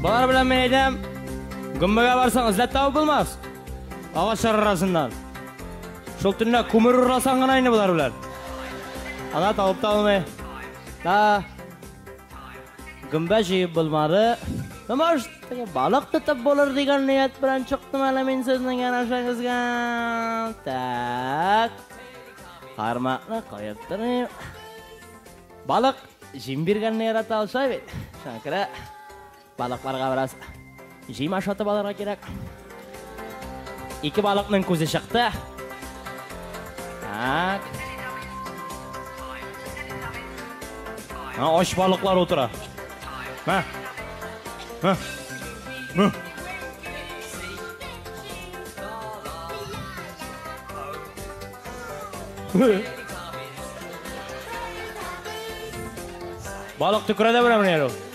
Балар белән мен әйтәм, гөмбәгә барсаң эзләп табып булмас. Агач арасыннан. Шул төнлә күмер урласаң гына инде болар белән. Ана табып та алмый. Да. Гөмбә җыеп булмады. Томаш, балык тотып булыр дигән ният белән чыктым әле мин сезнең янәшәгезгә. Так. Кармакны куеп торыйм. Балык җим биргәнне ярата алса бит. Шакра. Балыкларга бераз җим ашатып алырга кирәк. Ике балыкның күзе чыкты. Так. Ха, оч балыклар утыра. Ха. Ха. Ха. Балык төкрәдә берәмне яру.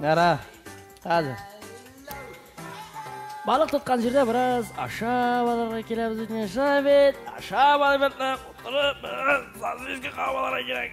Нара, хәзер. Балык тоткан җирдә бераз ашап алырга кирәкбез бит, Миша бит. Ашап алып бетне, утырып, бераз сандвичка кабып алырга кирәк.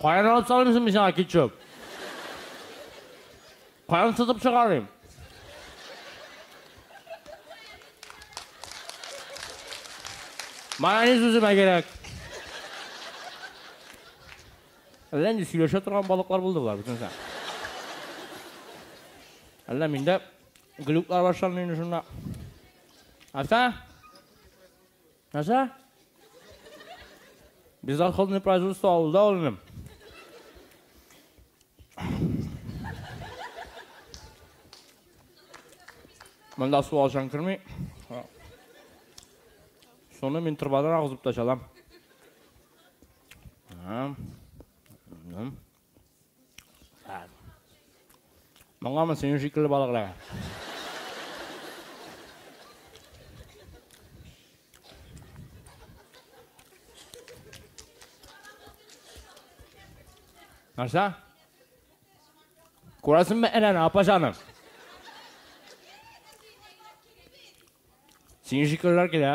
Каян алып салыйм соң мин сиңа кетчуп? Каян сытып чыгарыйм? Майонез үземә кирәк. Әллә нинди сөйләшә торган балыклар булды болар бөтенесе. Әллә миндә глюклар башланды инде шунда. Аса? Нәрсә? Бездоходный производство авылда ул инде. Монда су алчан керми. Шуны мин торбадан агызып та чалам. Моңамы синең шикелле балыклар? Нәрсә? Күрәсеңме әнәне, апа җаным? Синең шикеллеләр килә.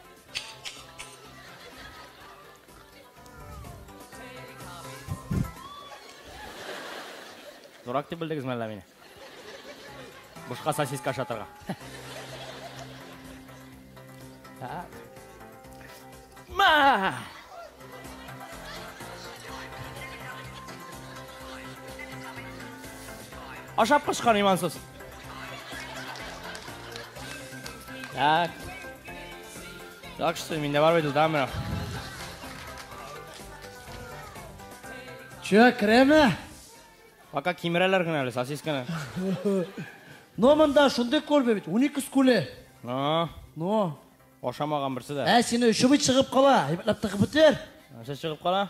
Дурак дип белдегез мәллә мине? Бушка сосиска ашатырга. Так. Ма! Ашап кышкан имансыз. Так. Так что, меня давай выйду, да, мэр? Че, креме? Пока кимерелер гына әле, сосисканы. Но мында шундый күрбе бит, 12 скуле. Но. Но. Ашамаган берсе дә. Ә сине өчүбит чыгып кала, әйбәтләп тыгып бетер. Нәрсә чыгып кала?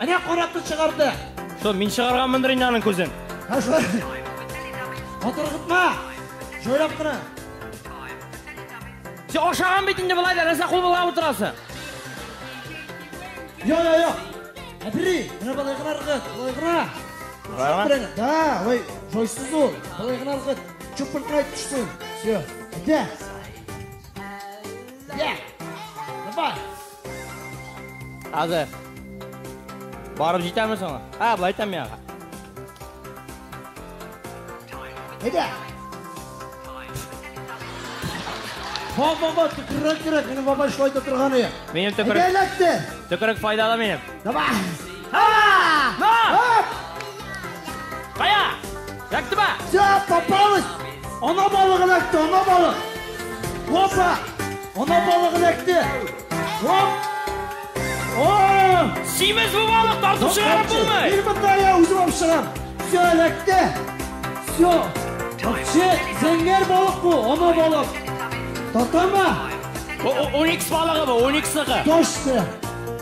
Әнә каратны чыгарды. Что, мин чыгарганмындыр инде аның күзен. Һә шулай. Атыргытма. Җайлап кына. Син ашаган бит инде болай да, нәрсә кул болгап утырасың? Йо, йо, йо. Әбри, менә болай гына ыргыт, болай гына. Болай гына? Да, ой, җайсыз ул. Болай гына ыргыт. Чупыркай төшсен. Все. Әйдә. Әйдә. Давай. Хәзер. Барып җитәме соңа? Ә, былай тәм яңа. Әйдә. Баба, баба, төкерек, төкерек, минем баба шулай да торганы. Минем төкерек. Әйдә, ләкте. Төкерек файдалы минем. Давай! А! На! Кая! Яктыма! Все, попалось! Она балыгын әкте, она балык! Опа! Она балыгын әкте! Оп! О! Симез бу балык тартып чыгарып булмый! Бир мында я үзем алып чыгам! Все, әкте! Все! Вообще, зәңгәр балык бу, она балык! Татама! Оникс балыгы бу, ониксыгы! Точно!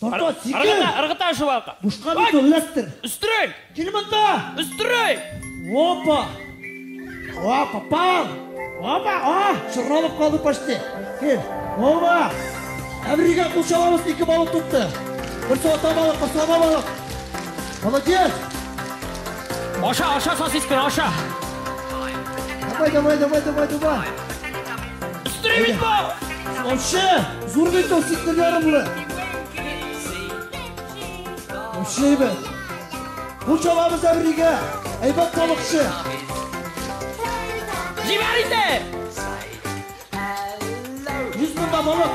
Тарта, сикер! Ыргыта, ыргыта шувалка. Бушка бит ул, эләктер. Өстерәк! Кил монда! Өстерәк! Опа! О, попал! Опа, о, шырналып калды почти. Кил. Опа! Әбригә кул чабабыз, ике балык тотты. Бер сота балык, кыслама балык. Молодец! Аша, аша сосисканы, аша. Давай, давай, давай, давай, давай. Өстенә бит бу! Вообще, зур бит ул сектор ярымлы. Вообще әйбәт. Бу чабабыз әбригә. Әйбәт балыкчы. Җибәр инде! Йөз мыңда балык.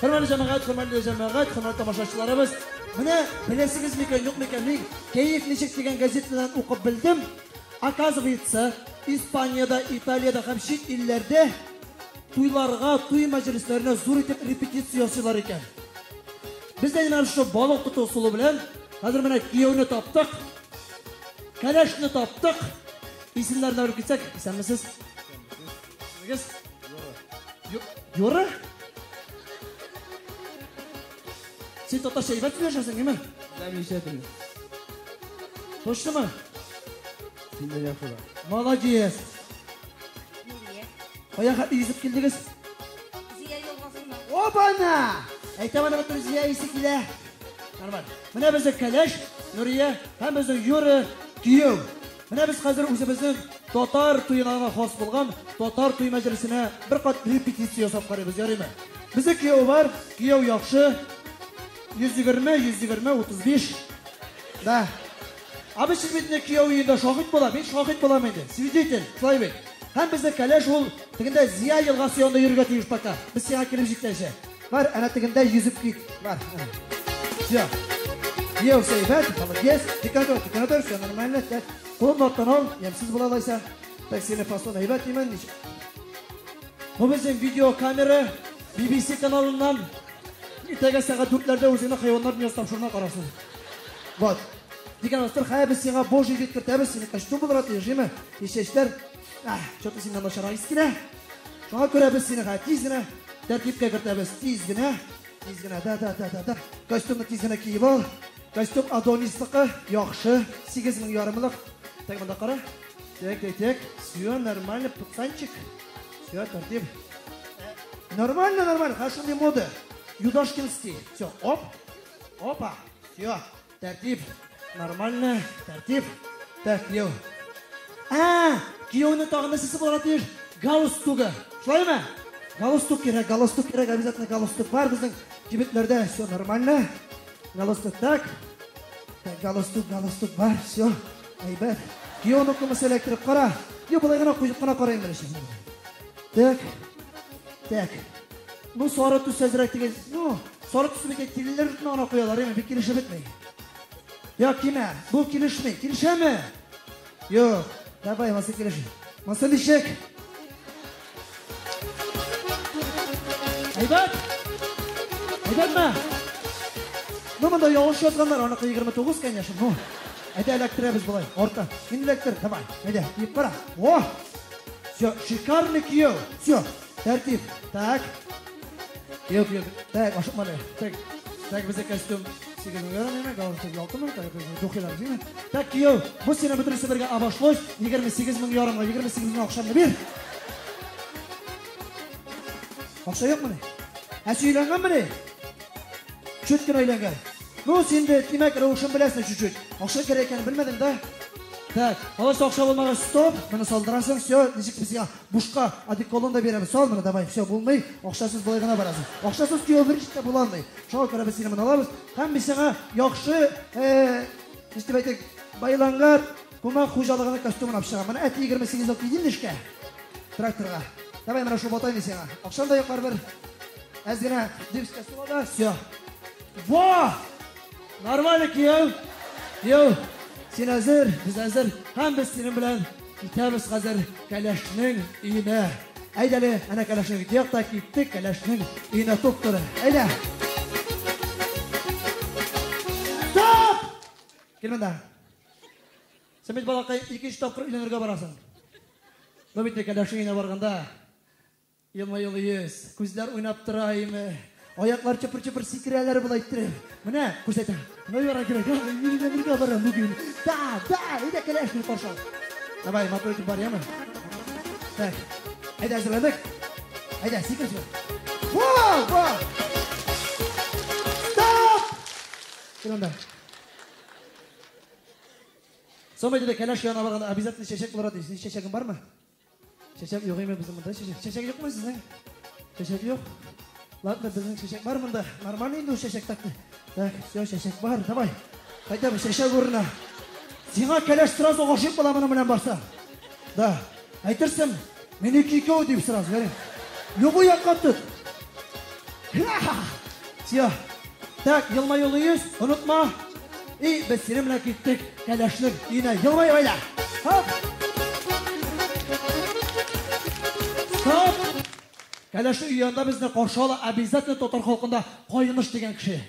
Хөрмәтле җәмәгать, хөрмәтле җәмәгать, хөрмәтле тамашачыларыбыз! Менә беләсегез микән, юк микән, мин Кәеф ничек дигән газетадан укып белдем, оказывается, Испаниядә, Италиядә һәм чит илләрдә туйларга, туй мәҗлесләренә зур итеп репетиция ясыйлар икән. Без дә менә шушы балык тоту ысулы белән хәзер менә кияүне таптык, кәләшне таптык. Исемнәрне белеп китсәк, исәнмесез. Белегез. Юры. Син татарча әйбәт сөйләшәсең, әйме? Ләмичә теле. Тоштымы? Синдә яхшы да. Молодец. Нурия. Кая хәтле йөзеп килдегез? Зия елгасыннан. Опана! Әйтәм аны бөтен Зия исе килә. Нормаль. Менә безнең Кәләш, Нурия һәм безнең Юры кияү. Менә без хәзер үзебезнең татар туена гына хас булган татар туй мәҗлесенә бер кат репетиция ясап карыйбыз, ярыймы? Бездә кияү бар, кияү яхшы. 120, 120, 35. Да. А без сез бит инде кияү өендә шахит була, мин шахит булам инде. Свидетель, шулай бит. Һәм бездә кәләш ул тегендә Зия елгасы янында йөрергә тиеш пока. Без сиңа килеп җитәчәк. Бар, әнә тегендә йөзек кик бар. Все. Йоу, сәйбәт, молодец. Тик атыр, тик атыр, все нормально. Тәт. Кулын аттан ал, ямсыз була лайса. Так сине фасон әйбәт димән. Бу безнең видеокамера BBC каналыннан Иртәгә сәгать дүртләрдә үзеңне хайваннар дөньясы тапшыруына карарсың. Вот. Дигән астыр, хәбез сиңа божий вид кертәбез, сине костюм булырга тиеш, җиме? Ишешләр, Чо ты синнан начарай искенә. Шуңа күрә без сине хә тиз генә тәртипкә кертәбез. Тиз генә. Тиз генә. Да, да, да, да, да. Костюмны тиз генә киеп ал. Костюм Адонисныка яхшы. 8000 ярымлык. Так монда кара. Так, так, так. Все нормально, пацанчик. Все тәртип. Нормально, нормально. Хәшуни мода. Юдашкин стиль. Все, оп. Опа. Все. Тәртип. Нормально. Тәртип. Так, кияү. Ә, кияүне тагын нәрсәсе булырга тиеш? Галстугы. Шулаймы? Галстук кирәк, галстук кирәк, обязательно галстук бар безнең кибетләрдә. Все нормально. Галстук так. Так, галстук, галстук бар. Все. Әйбәт. Кияүне кымысы эләктереп кара. Йо, былай гына куеп кына карайын беренче. Так. Так. Бу сары төс әзрәк тигез. Ну, сары төс бит тигезләр бит ана куялар, яме бик килешә бетми. Я кимә, бу килешми. Килешәме? Юк. Давай, маса килеш. Маса ничек? Әйбәт. Әйбәтме? Ну, монда ялгыш язганнар, аныкы 29, конечно. Ну, әйдә эләктерәбез болай, орта. Мин эләктер, давай. Әйдә, киеп кара. О! Все, шикарный кияү. Все, Тәртип. Так. Юк, юк. Так, ашыкма әле. Так. Так, бездә костюм сигез мең евро менә, галстук алты мең, так, духилар димме? Так, кияү, бу сине бөтенесе бергә обошлось, 28 мең ярымга, 28 мең акчаны бир. Акча юкмы? Ә сөйләнгәнмени? Чөт кенә өйләнгән. Ну, син дә тимәк рәвешен беләсең чуть-чуть. Акча кирәк икәнен белмәдең да. Так, алайса акча булмагач, стоп, моны салдырасың, все, ничек без Бушка одеколон да бирәбез. Сал моны, давай, все, булмый. Акчасыз болай гына барасың. Акчасыз кияү бер җиттә була алмый. Шуңа күрә без сине моны алабыз. Һәм без сиңа яхшы, э, нишләп дип әйтик, байлангар кумак хуҗалыгының костюмын алып чыгам. Менә әти 28 ел кидем нишкә. Тракторга. Давай менә шул ботайны сиңа. Акчам да якар бер. Әз генә дивскә сула да, все. Во! Нормально кияү. Кияү. Син әзер, без әзер. Һәм без синең белән Китәбез хәзер кәләшнең өенә. Әйдәле, әнә кәләшнең диякта киттек, кәләшнең өенә туп торы. Әйдә! Стоп! Кил монда. Сен бит балакай икенче тапкыр өйләнергә барасың. Ну бит кәләшнең өенә барганда Елмаюлыйс, күзләр уйнап тора име? Аяклар чыпыр-чыпыр сикерәләр болай иттереп. Менә, күрсәтәм. Менә яра кирәк. Мин дә бергә барам бүген. Да, да, әйдә киләш мин каршы. Давай, матур итеп бар, яме? Так. Әйдә, әзерләдек. Әйдә, сикер сикер. Во, во. Стоп! Кил анда. Соң әйдә, кәләш янына барганда обязательно чәчәк булыр ди. Синең чәчәгең бармы? Чәчәк юк име безнең монда? Чәчәк, чәчәк юкмы сезнең? Чәчәк юк. Ладно, безнең чәчәк бар монда. Нормально инде ул чәчәк так. Так, все, чәчәк бар. Давай. Кайда бу чәчәк урына? Сиңа кәләш сразу гашыйк була моның белән барса. Да. Әйтерсең, минеке икәү дип сразу, ярый. Любой якка тот. Все. Так, елмаюлы йөз, онытма. И, без синең белән киттек кәләшнең өенә. Елмай гаилә. Хоп! Стоп! Кәләшнең өе янында безне каршы ала обязательно татар халкында кайныш дигән кеше.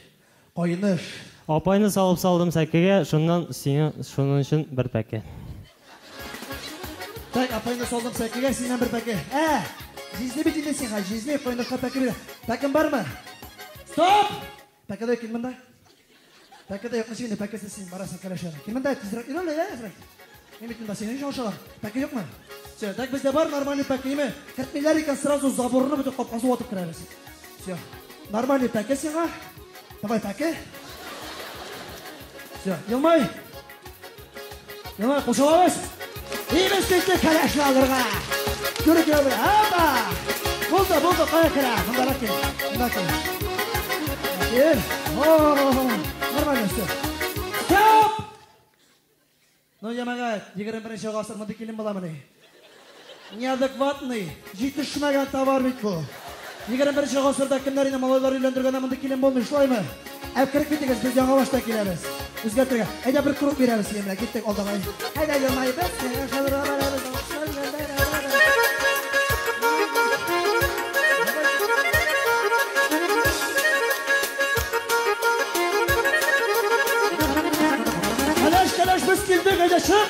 Кайныш. Апайны салып салдым сәкегә, шуннан сиңа шуның өчен бер пәке. Так, апайны салдым сәкегә, синнән бер пәке. Ә! Җизни бит инде сиңа, җизни, кайнышка пәке бирә. Пәкең бармы? Стоп! Пәкедә кил монда. Пәкедә юкмы синең пәкесе син барасың кәләшәне. Кил монда тизрәк йөр әле, ә, Фрэнк. Мин бит монда синең өчен ашалам. Пәке юкмы? Все, так бездә бар нормальный пәкеме? Кертмиләр икән сразу заборны бөтен капкасы ватып керәбез. Все. Нормальный пәке сиңа. Давай пәке. Все, елмай. Яңа кушылабыз. Имеш титле кәләшне алырга. Күрү килә бер. Апа! Булды, булды, кая керә? Монда да кил. Монда кил. Кил. О, нормально все. Стоп! Ну, ямагат, 21 гасыр мондый килен буламыни? Неадекватный, җитешмәгән товар бит бу. Егерме беренче гасырда кемнәр инде малайлар өйләндергәндә мондый килен булмый, шулаймы? Ә кереп китегез, без яңа башта киләбез. Үзгәртергә. Әйдә бер круг бирәбез сине белән, киттек алдагай. Әйдә елмаеп без, сиңа шабырга барабыз, алкышлар белән бәрабәр. Кәләш, кәләш, без килдек, әйдә чык!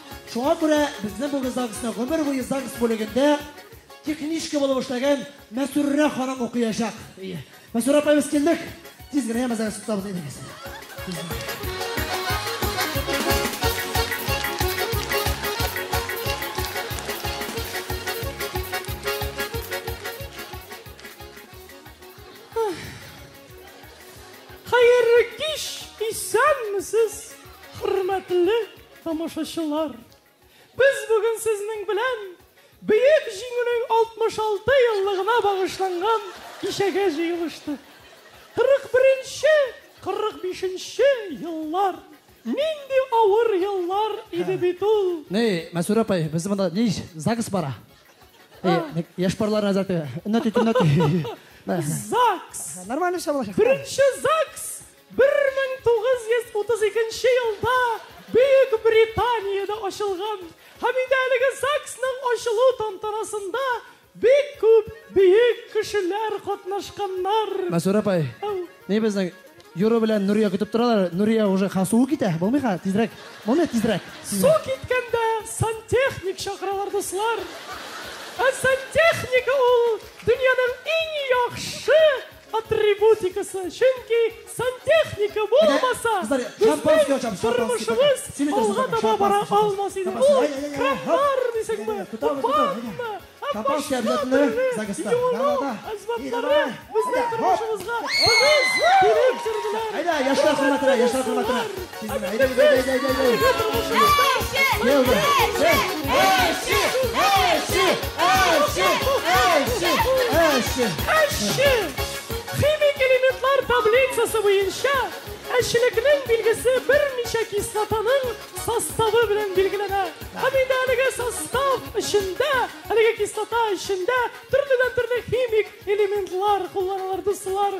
Шуңа күрә безнең бүген ЗАГСның гомер буе ЗАГС бүлегендә техничка булып эшләгән Мәсүррә ханым укыячак. Мәсүррә апай, без килдек. Тиз генә яма ЗАГС тотабыз идегез. Хәерле кич, исәнмесез, хөрмәтле Тамашачылар, без бүген сезнең белән Бөек Җиңүнең 66 еллыгына багышланган кичәгә җыелыштык. 41-нче, 45-нче еллар нинди авыр еллар иде бит ул. Ни, Мәсүрә апай, без монда ни ЗАГС бара? Яшь парлар назар тә. Өнәти, төнәти. ЗАГС. Нормально шабылачак. Беренче ЗАГС Бер мең тугыз йөз утыз икенче елда Бөек Британиядә ачылган һәм инде әлеге ЗАГСның ачылу тантанасында бик күп бөек кешеләр катнашканнар. Мәсүрә апай, ни безнең Юру белән Нурия көтеп торалар, Нурия уже ха суы китә, булмый ха, тизрәк, булмый тизрәк. Су киткәндә сантехник чакыралар, дуслар. Ә сантехника ул дөньяның иң яхшы атрибутикасы, чөнки сантехника булмаса, безнең тормышыбыз алга таба бара алмас иде. Ул краннар дисеңме, ванна, башка төрле юыну әзбатлары безнең тормышыбызга тыгыз килеп керделәр. Әйдә, яшьләр хөрмәтенә, яшьләр хөрмәтенә. Химик элементлар таблицасы буенча әчелекнең билгесе берничә кислотаның составы белән билгеләнә. Һәм инде әлеге состав эчендә, әлеге кислота эчендә төрледән төрле химик элементлар кулланылыр, дуслар.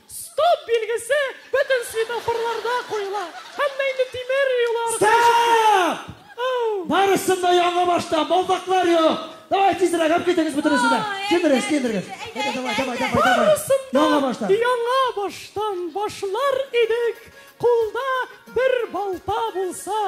Стоп билгесе бөтен светофорларда куела. Һәммә инде тимер юллар. Стоп! Барысын да яңа башта, балдаклар юк. Давай тизрәк алып китегез бөтенесен дә. Кендерегез, кендерегез. Әйдә, давай, давай, давай, давай. Барысын да яңа баштан башлар идек. Кулда бер балта булса,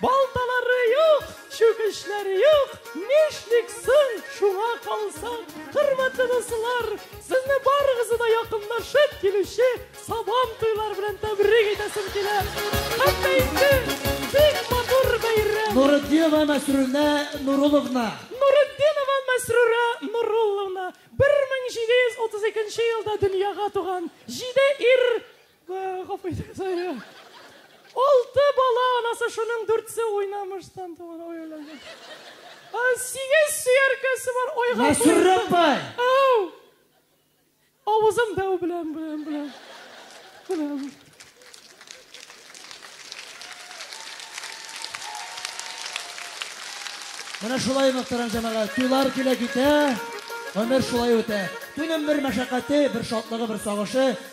балталары юк, чүкечләре юк, нишлик соң шуңа калса. Хөрмәтле дуслар, сезне барыгызны да якынлашып килүче Сабан туйлар белән тәбрик итәсем килә. Хәтта инде бик матур бәйрәм. Нуретдинова Мәсрүрә Нуруловна. Нуретдинова Мәсрүрә Нурулловна 1732 елда дөньяга туган, җиде ир, Гафу итегез, ай. Алты бала анасы, шуның дүртсе уйнамыштан туган. Ой, ой, ой. Сигез сөяркәсе бар. Ой, гафу. Мәсүррәп бай. Ау. Авызым дәү белән, белән, белән. Белән. Менә шулай мөхтәрәм җәмәгать, туйлар килә китә, гомер шулай үтә. Туйның бер мәшәкате, бер шатлыгы, бер сагышы,